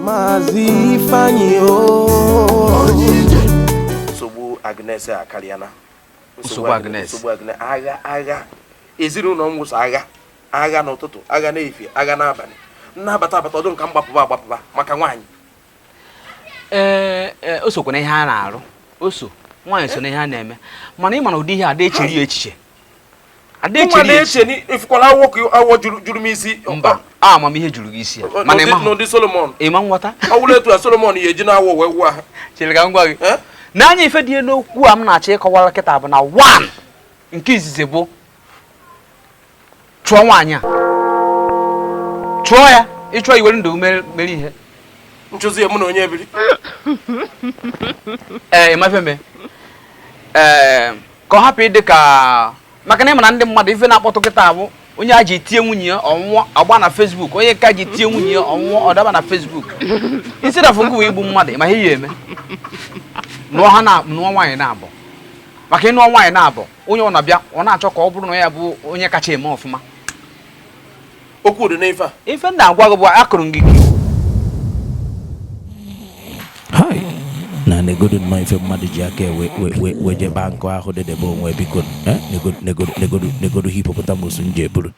Maazị Ifeanyi nsogbu Agnes akarịala nsogbu Agnes nsogbu Agnes agha agha ezinụlọ m wụ sọ agha agha n'ụtụtụ agha n'efifie agha n'abalị m na-abata abata ọ dị m ka m gbapụba agbapụba maka nwaanyị ee eh, eh, o sokwa na ihe a na-arụ o so nwaanyị so na ihe a na-eme mana ị ma na ụdị ihe a da echere ya echiche nwa na-eche na ị fụkwala na awọ juru m isi mba amamihe juru gị isi ya mana ị ma n'ụdị Solomon ịma nghọta ọ wụrụ etu a Solomon ya eji na-awọ wee wụọ ha chere ka m gwa gị n'anya ife dị n'okwu a m na-achọ ịkọwara kịta bụ na one nke izizi bụ chụọ nwaanyị a chụọ ya ị chọọ iwere ndụ mere ihe m chụzi ya mụ na onye ebiri ee eh, ịmafeme ee eh, ka ọ hapụ ịdị ka maka na ị ma na ndị mmadụ ife na-akpọtụ kịta bụ onye a ji tie nwunye ya ọ nwụọ ọ gba na Facebook onye ka ji tie nwunye ya ọ nwụọ ọ daba na Facebook instead of gị igbu mmadụ ma ihe ị ya-eme nụọ ha na nụọ nwaanyị naabọ maka ị nụọ nwaanyị naabọ onye ọ na-abịa ọ na-achọ ka ọ bụrụ na ya bụ onye kacha eme ọfụma okwu dị n'ife a ife m na-agwa gị bụ akụrụ gị na negodu nnọọ ife mmadụ ji aka wee jebe nkụ ahụ dedebe onwe biko eh? negodu hippopotamus m ji eburu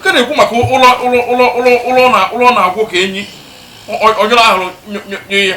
nke na-ekwu maka ụlọ ụlọ ụlọ ụlọ ụlọ na ụlọ na-agwụ ka enyi ọjọọ ahụrụ nye ya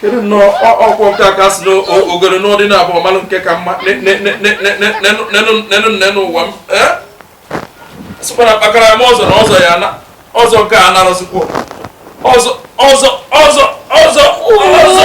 kedu nnọọ ọkwọ nke aka si n'ogere n'ụdị na abụọ malụ nke ka mma nenu nne n'ụwa m sịkwara kpakara m ọzọ na ọzọ ya na ọzọ nke a narụzikwa ọzọ ọzọ ọzọ ọzọ ọzọ